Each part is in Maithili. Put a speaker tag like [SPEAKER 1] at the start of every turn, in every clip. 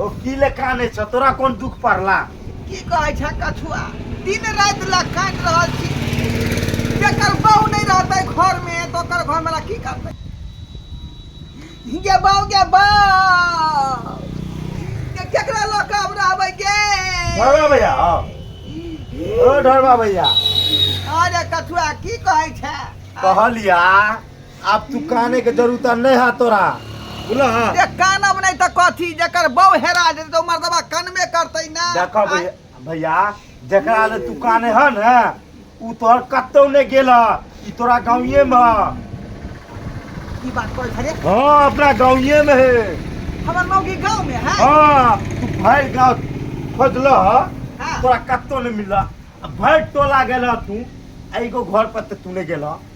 [SPEAKER 1] ओ की ले काने छ तोरा कोन दुख पड़ला की कहै छ कछुआ दिन रात ला काट रहल छी जेकर बहू नहीं रहते घर में तो कर घर में की करते गे बहू गे बहू केकरा ला काम रहबे गे ढोलवा भैया आओ। ओ ढोलवा भैया अरे कछुआ की कहै छ कहलिया आब तू काने के जरूरत नहीं है तोरा बोला हाँ जे कानब नहीं तो कथी जकर बहू हेरा जेतै तो मर्दबा कनबे करतै ना देखो भैया भैया जकरा ले तू काने है ना उ तोहर कतौ नहीं गेल है। ई तोरा गाँवे में है। की बात करै छरे हाँ अपना गाँवे में है हमर मौगी गांव में है हाँ तू भर गाँव खोजल है हाँ। तोरा कतौ नहीं मिला भर टोला गेल है तू एगो घर पर तो तू नहीं गेल है।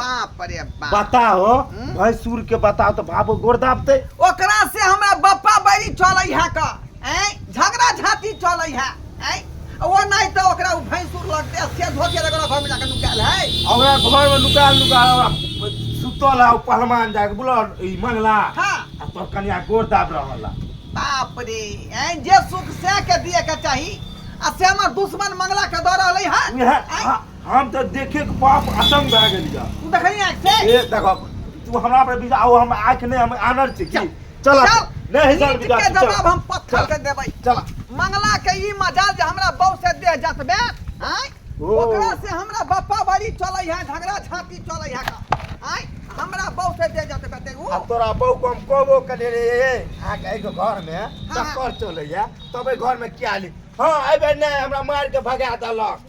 [SPEAKER 1] बाप रे बाप बताओ हम्म? भाई सूर के बताओ तो भाबो गोड़ दाबते ओकरा से हमरा बप्पा बैरी चलै है का ऐ झगड़ा झांटी चलै है ऐ ओ नहीं तो ओकरा उ भैंसुर लगते से धोके लगल घर में जाके नुकाल है हमरा घर में लुका लुका सुतल है पहलवान जाके बोला ई मंगला हां आ तोर कनिया गोड़ दाब रहल है। बाप रे ऐ जे सुख से के दिए के चाही आ से हमर दुश्मन मंगला के दऽ रहलै है उहे, ऐ, हाँ। हम तऽ देखे के बाप अतंग भए गेल या तू देखली आँख से ए देखो तू हमरा पर बिजा आउ हम आँख नहीं हम आनर छी की चल नहीं हिसाब नीच बिजा के तू, चल। जवाब हम पत्थर से देबै चल मंगला के ई मजाल जे हमरा बहू से देह जतबे आँय ओ। ओकरा से हमरा बापा बारी चलै है झगड़ा छाती चलै है का आँय हमरा बहू से देह जतबे ते उ अब तोरा बहू को हम कहबो करे रे आ के एगो घर में हाँ। चक्कर चले या तबे घर में क्या ली हाँ अबे नहीं हमरा मार के भगा देलक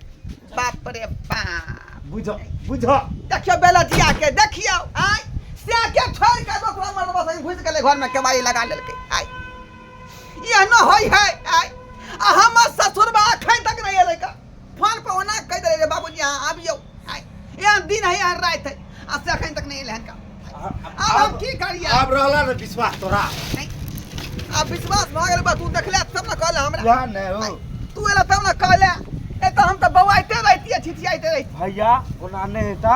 [SPEAKER 1] बाप रे बाप बुझ बुझ देखियो बेलजिया के देखियो आय से के छोड़ के दोसरा मर्द बस घुस गेले घर में केवाई लगा लेलके आय ये न होई है आय आ हम ससुर बा अखन तक नहीं एले का फोन पे ओना कह दे रे बाबूजी हां आबियो आय ये दिन है यार रात है आ से अखन तक नहीं एले हन का आब हम की करियै आब रहला ने विश्वास तोरा आब विश्वास भऽ गेल बा तू देखले तब ने कहले हमरा वएह ने हो तू एला तब ने कहले ए तऽ हम तऽ बौआइते रहितियै छिछियाइते रहितियै भैया ओना नहि हेता